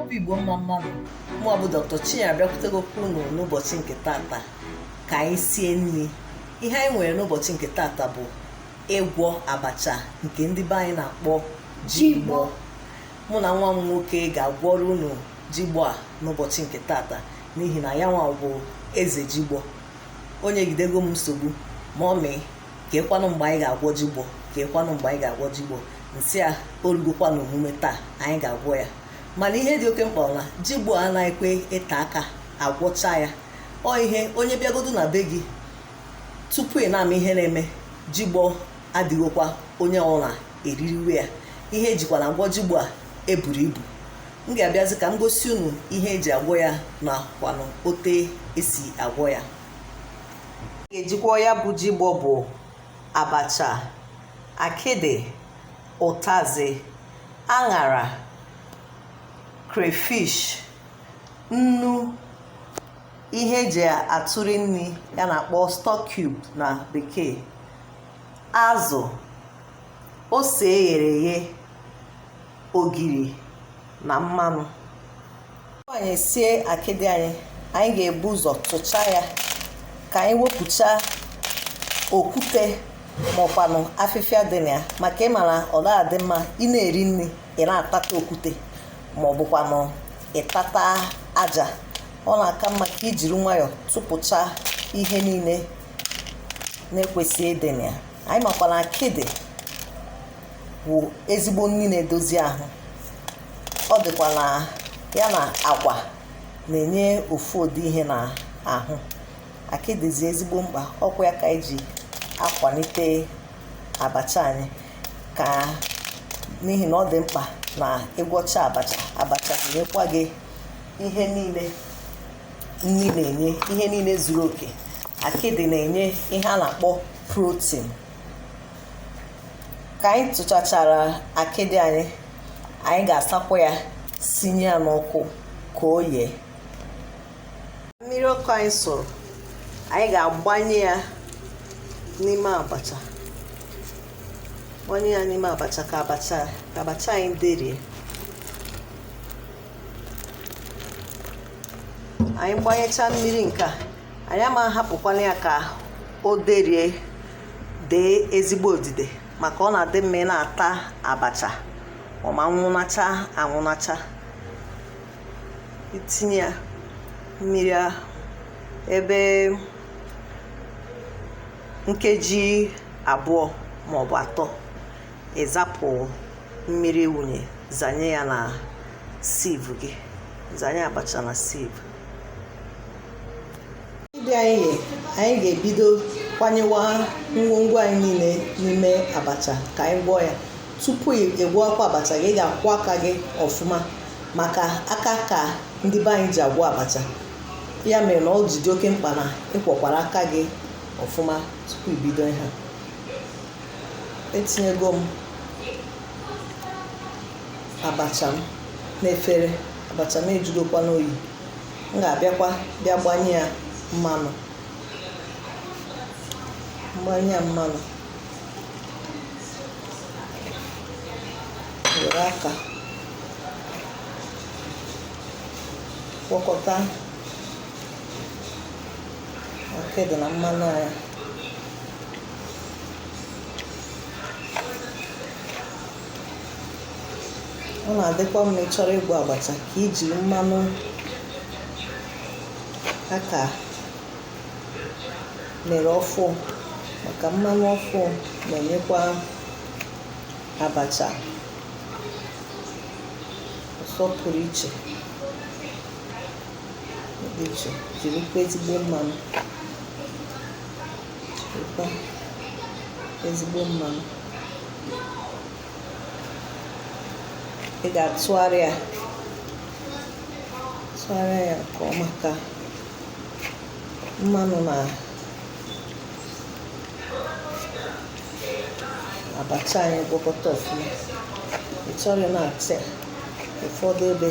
obi igbo mma mma nụ mụ bụ dr chinyere abịakwutegokwa unu n'ụbọchị nke tata ka anyị sie nri ihe anyị nwere n'ụbọchị nke tata bụ ịgwọ abacha nke ndị be anyị na-akpọ jigbo mụ na nwa m nwoke ga-agwọrọ unu jigbo a n'ụbọchị nke tata n'ihi na ya nwa bụ eze jigbo o nyegidego m nsogbu mummy keekwanụ mgbe anyị ga-agwọ jigbo keekwanụ mgbe anyị ga-agwọ jigbo m sị ya o rugokwa na omume taa anyị ga-agwọ ya mana ihe dị oke mkpa na jigbo anaghịkwa ete aka agwọcha ya ọ ihe onye bịagodu na be gị tupu ị na-ama ihe na-eme jigbo adịghịkwa onye ọbụla eririwe ya ihe ejikwa na agwọ jigbo a eburo ibu m ga-abịazi ka m gosi unu ihe eji agwọ ya na kwanụ otu esi agwọ ya ga-ejikwa ya bụ jigbo bụ abacha akịdị ụtazị aṅara crayfish nnu ihe eji atụri nri a na-akpọ stock cube na bekee azụ ose eghere eghe ogiri na mmanụ anyị sie akịdị anyị anyị ga-ebu ụzọ tụcha ya ka anyị wepụcha okwute maọkwanụ afịfịa dị na ya maka ị mara ọ gaghị adị mma ị na-eri nri ị na-atata okwute ma ọ bụkwanụ ịtata aja ọ na-aka mma ka ijiri nwayọọ tụpụcha ihe niile na-ekwesịghị ịdị na ya anyị makwa na akịdị bụ ezigbo nri na-edozi ahụ ọ dịkwa na ya na agwa na-enye ofu ụdị ihe na ahụ akịdị dị ezigbo mkpa ọkwa ya ka anyị ji akwalite abacha anyị ka n'ihi na ọ dị mkpa na ịgwọcha abacha abacha ga-enyekwa gị ihe niile nri na-enye ihe niile zuru oke akịdị na-enye ihe a na-akpọ protein ka anyị tụchachara akịdị anyị anyị ga-asakwa ya sinye ya n'ọkụ ka o yee mmiri ọkụ anyị sụrụ anyị ga-agbanye ya n'ime abacha gbanye ya n'ime abacha ka abacha ka abacha anyị derie anyị gbanyechaa mmiri nke a anyị ama ahapụkwanụ ya ka o derie dee ezigbo odide maka ọ na-adị mma ị na-ata abacha ọ ma nwụnacha anwụnacha itinye ya mmiri ahụ ebe nkeji abụọ maọbụ atọ ịzapụ mmiri wụnye zanye ya na sieve gị zanye abacha na sieve ndị anyị anyị ga-ebido kwanyewa ngwongwo anyị niile n'ime abacha ka anyị gwọọ ya tupu ịgwọkwa abacha gị ị ga-akwọ aka gị ọfụma maka aka ka ndị be anyị ji agwọ abacha ya mere na ọ ji dị oke mkpa na ịkwọkwara aka gị ọfụma tupu ibido ihe etinyego m abacha m n'efere abacha m ejudokwa n'oyi m ga-abịakwa bịa gbanye ya mmanụ gbanye ya mmanụ were aka gwọkọta akịdị na mmanụ anyị ọ na-adịkwa mma ị chọrọ ịgwọ abacha ka iji mmanụ a ka mere ọfụ maka mmanụ ọfụ na-enyekwa abacha ụsọ pụrụ iche dị iche jirikwa ezigbo mmanụ ezigbo mmanụ ị ga-atụgharị ya tụgharịa ya nke ọma ka mmanụ na abacha anyị gwọkọta ọfụma ị chọrọ na-atị ụfọdụ ebe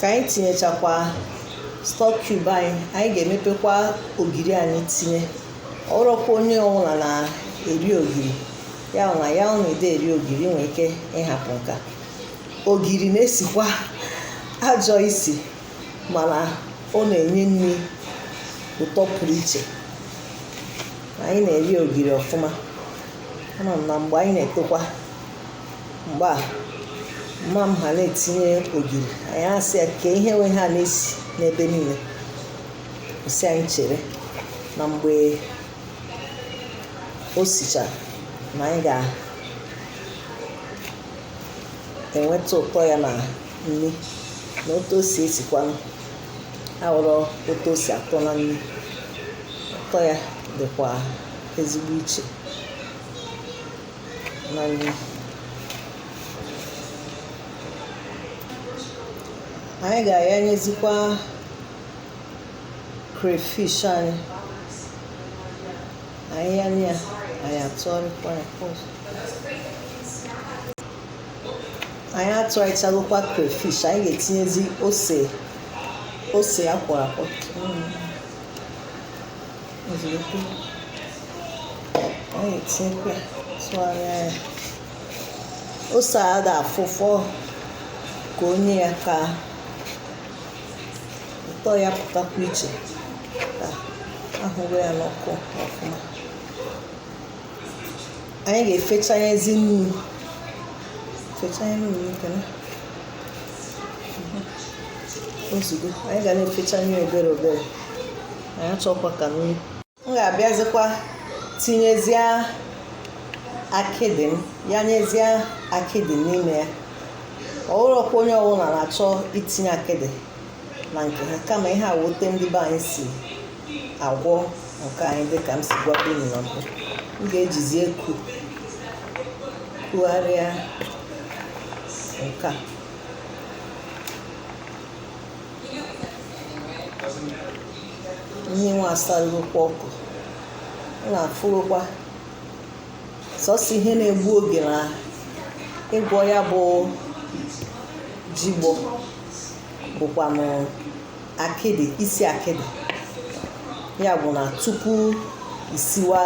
ka anyị tinyechakwa stock cube anyị anyị ga-emepekwa ogiri anyị tinye ọrọkwa onye ọbụla na-eri ogiri ya na ya ọ na ị dị eri ogiri i nwee ike ịhapụ nke a ogiri na-esikwa ajọ isi mana ọ na-enye nri ụtọ pụrụ iche anyị na-eri ogiri ọfụma ama m na mgbe anyị na-etokwa mgbe a mma m ha na-etinye ogiri anyị asị ya ke ihe wụ ihe a na-esi n'ebe niile ọ sị anyị chere na mgbe o sicha na anyị ga-enweta ụtọ ya na nri na otu o si esikwanụ awụrọ otu o si atọ na nri ụtọ ya dịkwa ezigbo iche anyị ga-ayanyezikwa crayfish anyị anyị yanye ya anyị atụgharịkwa ya anyị atụgharịchagokwa crayfish anyị ga-etinyezi ose ose a kwọrọ akwọ ozugbo anyị etinyekwa tụgharịa ya ose a da afụ ụfụ ka o nye ya ka ụtọ ya pụtakwa iche ka ahụwe ya n'ọkụ ọfụma anyị ga-efechanyezi nnu fechanye nnu nke na ozugbo anyị ga na-efechanye obere obere anyị achọkwa ka nnu m ga-abịazikwa tinyezie akịdị m yanyezie akịdị n'ime ya ọ wụrọkwa onye ọbụla na-achọ itinye akịdị na nke ha kama ihe a wụ otu ndị be anyị si agwọ nke anyị dịka m si gwa unu na mbụ m ga-ejizi eku kugharịa nke a ihe nwa asarụkwa ọkụ ọ na-afụrụkwa sọsọ ihe na-egbu oge na ịgwọ ya bụ jigbọ bụkwanụ akịdị isi akịdị ya bụ na tupu isiwa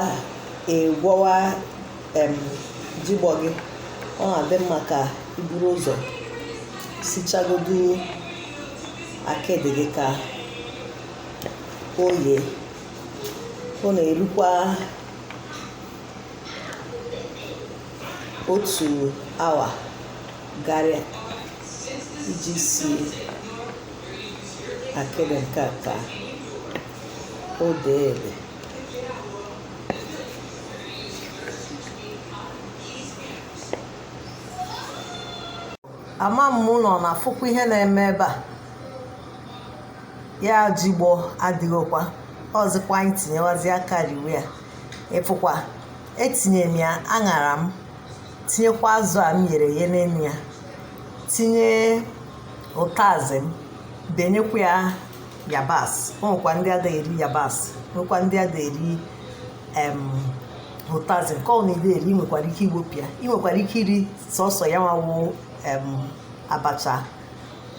ịgwọwa jigbọ gị ọ na-adị mma ka i buru ụzọ sichagodu akịdị gị ka o yee ọ na-erukwa otu awa karịa iji si akịdị nke a ka o dee ede ama m unu na-afụkwa ihe na-eme ebe a ya jigbo adịgokwa ọzịkwa anyị tinyewazi aka riwe ya ịfụkwa etinye m ya aṅara m tinyekwa azụ a m ghere eghe n'elu ya tinye ụtazị m benyekwa ya yabasị nwekwa ndị ada eri yabasị nwekwa ndị ada eri ụtazị nke ọ na-ada eri ị nwekwara ike iwepụ ya ị nwekwara ike iri sọsọ ya nwa wụ abacha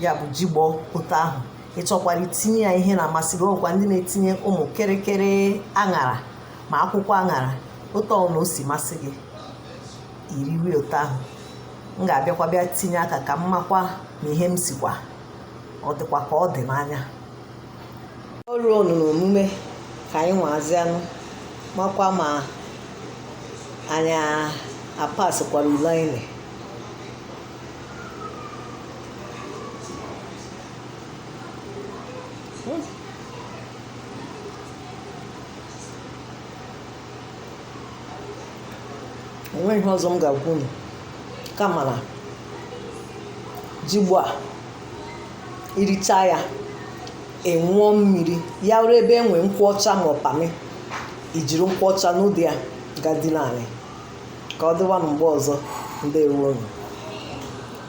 ya bụ jigbo otu ahụ ị chọkwara itinye ya ihe na-amasị gị o nwekwa ndị na-etinye ụmụ kịrịkịrị aṅara ma akwụkwọ aṅara otu ọ na o si masị gị iriwe otu ahụ m ga-abịakwa bịa tinye aka ka m makwa na ihe m sikwa ọ dịkwa ka ọ dị n'anya o ruo na omume ka anyị nwazianụ makwa ma anyị apasịkwara ule anyị enweghị ihe ọzọ m ga-agwa unu kama na jigbo a iricha ya aṅụọ mmiri ya wụrụ ebe enwe nkwụ ọcha ma ọ pamị ijiri nkwụ ọcha nuda ya gadị naanị ka ọ dịwa mgbe ọzọ ndewonu